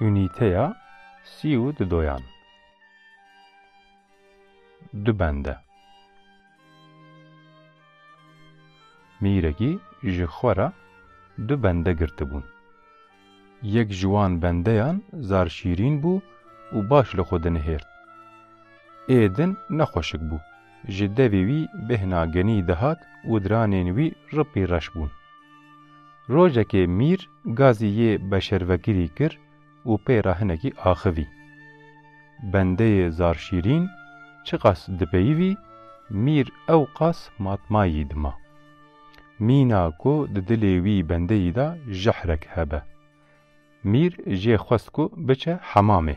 Unîteya sî û du doyan du bende Mîrekî ji xwe re du bende girtibûn. Yek ji wan bendeyan zar şîrîn bû û baş li xwe dinihêrt. Ê din nexweşik bû. Ji devê wî bêhna genî dihat û diranên wî ripî reş bûn. Rojekê Mîr gazî yê beşervekirî kir û pê re hinekî axivî. Bendeyê zar şîrîn çiqas dipeyivî, Mîr ewqas matmayî dima. Mîna ku di dilê wî bendeyî de jehrek hebe. Mîr jê xwest ku biçe hemamê.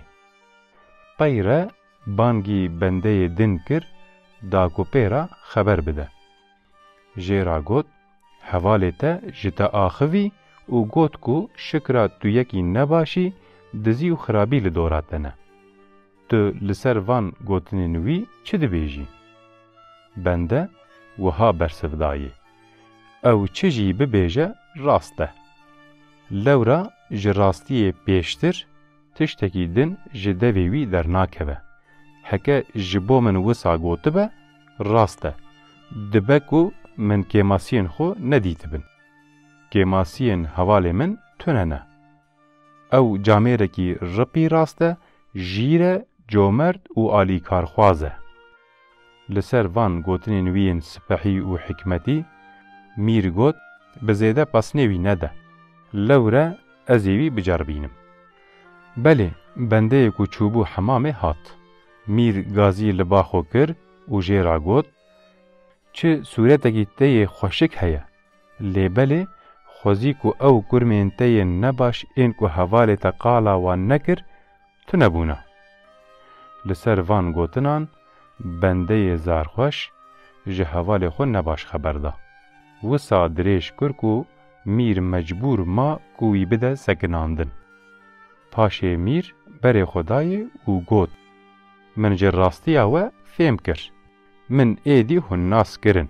Qey re bangî bendeyê din kir da ku pê re xeber bide. Jê re got, Hevalê te ji te axivî û got ku şikra tu yekî nebaşî, dizî û xirabî li dora te ne. Tu li ser van gotinên wî çi dibêjî? Bende wiha bersiv dayê, Ew çi jî bibêje rast e. Lewra ji rastiyê pêştir tiştekî din ji devê wî dernakeve. Heke ji bo min wisa gotibe, rast e. Dibe ku min kêmasiyên xwe nedîtibin. Kêmasiyên hevalê min tune ne. Ew camêrekî ripî rast e, jîr e, comert û alîkarxwaz e. Li ser van gotinên wî yên sipehî û hikmetî, Mîr got, Bi zêde pesnê wî nede. Lewre ez ê wî biceribînim. Belê, bendeyê ku çûbû hemamê hat. Mîr gazî li ba xwe kir û jê re got, Çi sûretekî te yê xweşik heye? Lê belê xwezî ku ew kurmên te yên nebaş ên ku hevalê te qala wan nekir, tune bûna. Li ser van gotinan bendeyê zarxweş ji hevalê xwe nebaş xeber da. Wisa dirêj kir ku Mîr mecbûr ma ku wî bide sekinandin. Paşê Mîr berê xwe dayê û got, Min ji rastiya we fêm kir. Min êdî hûn nas kirin.